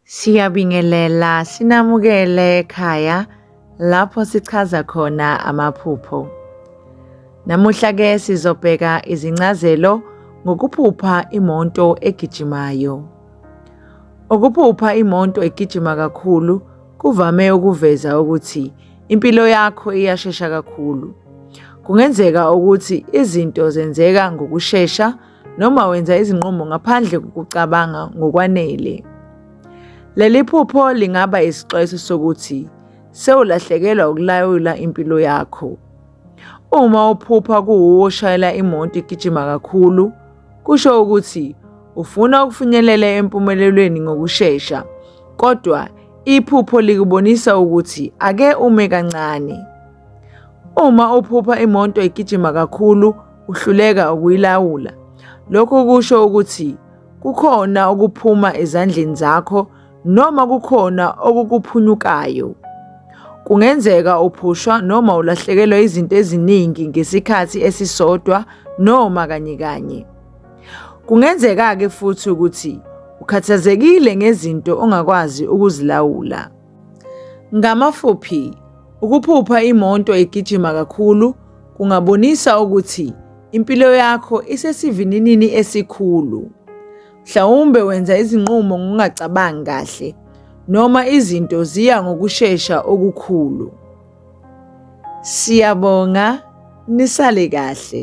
Siyabingelela sinamukele ekhaya lapho sichaza khona amaphupho. Namuhla ke sizobheka izincazelo ngokuphupha imoto egijimayo. Ukuphupha imoto egijima kakhulu kuvame ukuveza ukuthi impilo yakho iyashesha kakhulu. Kungenzeka ukuthi izinto zenzeka ngokushesha noma wenza izinqumo ngaphandle kokucabanga ngokwanele. Leli phupho lingaba isixwayiso sokuthi sewulahlekelwa ukulawula impilo yakho. Uma uphupha kuwuwo oshayela imoto igijima kakhulu, Kusho ukuthi ufuna ukufinyelela empumelelweni ngokushesha, kodwa iphupho likubonisa ukuthi ake ume kancane. Uma uphupha imoto igijima kakhulu uhluleka ukuyilawula, lokho kusho ukuthi kukhona okuphuma ezandleni zakho noma kukhona okukuphunyukayo. Kungenzeka uphushwa noma ulahlekelwa izinto eziningi ngesikhathi esisodwa noma kanye kanye. Kungenzeka-ke futhi ukuthi ukhathazekile ngezinto ongakwazi ukuzilawula. Ngamafuphi, ukuphupha imoto egijima kakhulu kungabonisa ukuthi impilo yakho isesivininini esikhulu. Mhlawumbe wenza izinqumo ngokungacabangi kahle noma izinto ziya ngokushesha okukhulu. Siyabonga nisale kahle.